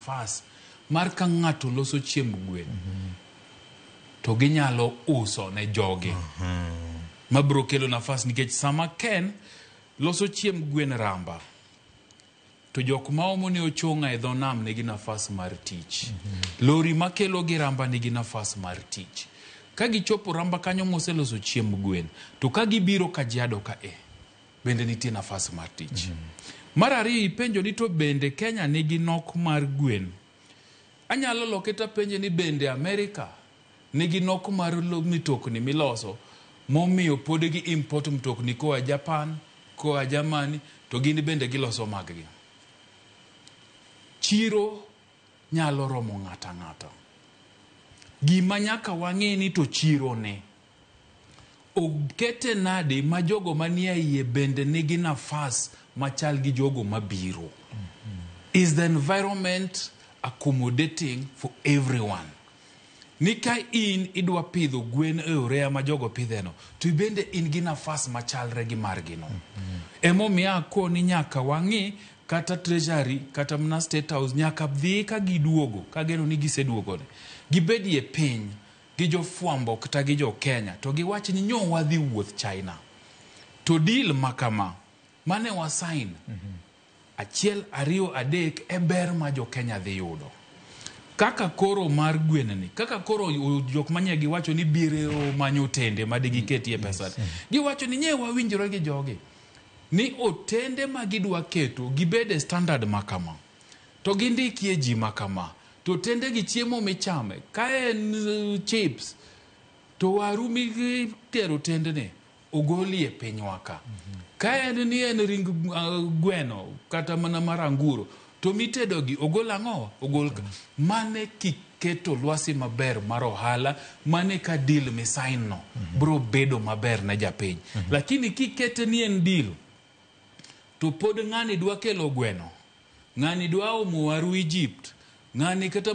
Fas mar ka ng'ato loso chiemb gwen to ginyalo uso ne jogi ma biro kelo nafas nikech sama Ken loso chiemb gwen ramba to jok ma omo ne ochong'a e dho nam nigi nafas mar tich. Lori ma kelo gi ramba nigi nafas mar tich. Ka gichopo ramba kanyo moseloso chiemb gwen to ka gibiro Kajiado ka e bende nitie nafas mar tich. Mar ariyo ipenjo ni to bende Kenya nigi nok mar gwen. Anyalo loke tapenje ni bende Amerika nigi nok mar lo- mitokni miloso momiyo pod gi import mtokni koa Japan, koa Germany to gin bende giloso maggi. Chiro nyalo romo ng'ato ang'ata. Gima nyaka wang'e ni to chiro ne. Okete nade ma jogo manie iye bende nigi nafas machal gi jogo mabiro? Is the environment accommodating for everyone? Ni ka in idwa pidho gwen e oreya ma jogo pidheno, to ibende in gi nafas machalre gi margino. Emomiyo akoni nyaka wang'i kata treasury kata mana state house nyaka dhi ka giduogo, kageno ni giseduogoni, gibedie piny. gi jofwambo kta gi jo Kenya to giwach ni nyo wadhi wuoth China to deal makama mane wa sign achiel ariyo adek e ber ma jo Kenya dhi yudo. Kaka koro mar gwen ni kaka koro jok manye giwacho ni biro manyo otende ma digi ketie pesa giwacho ni nye wawinjore gi jogi ni otende ma gidwa keto gibede standard makama. To gindikie ji ma kama, to tende gi chiemo michame, ka en chips, to waru mitero tendene ogolie pinywa ka. Ka en ni en ring gweno kata mana mar anguro, to mitedogi ogol ang'owa? Ogol ka. Mane kiketo lwasi maber mar ohala, mane ka deal misign no bro bedo maber ne japiny. Lakini kikete ni en deal, To pod ng'ani dwa kelo gweno? Ng'ani dwa omo waru Egypt? Ng'ani kata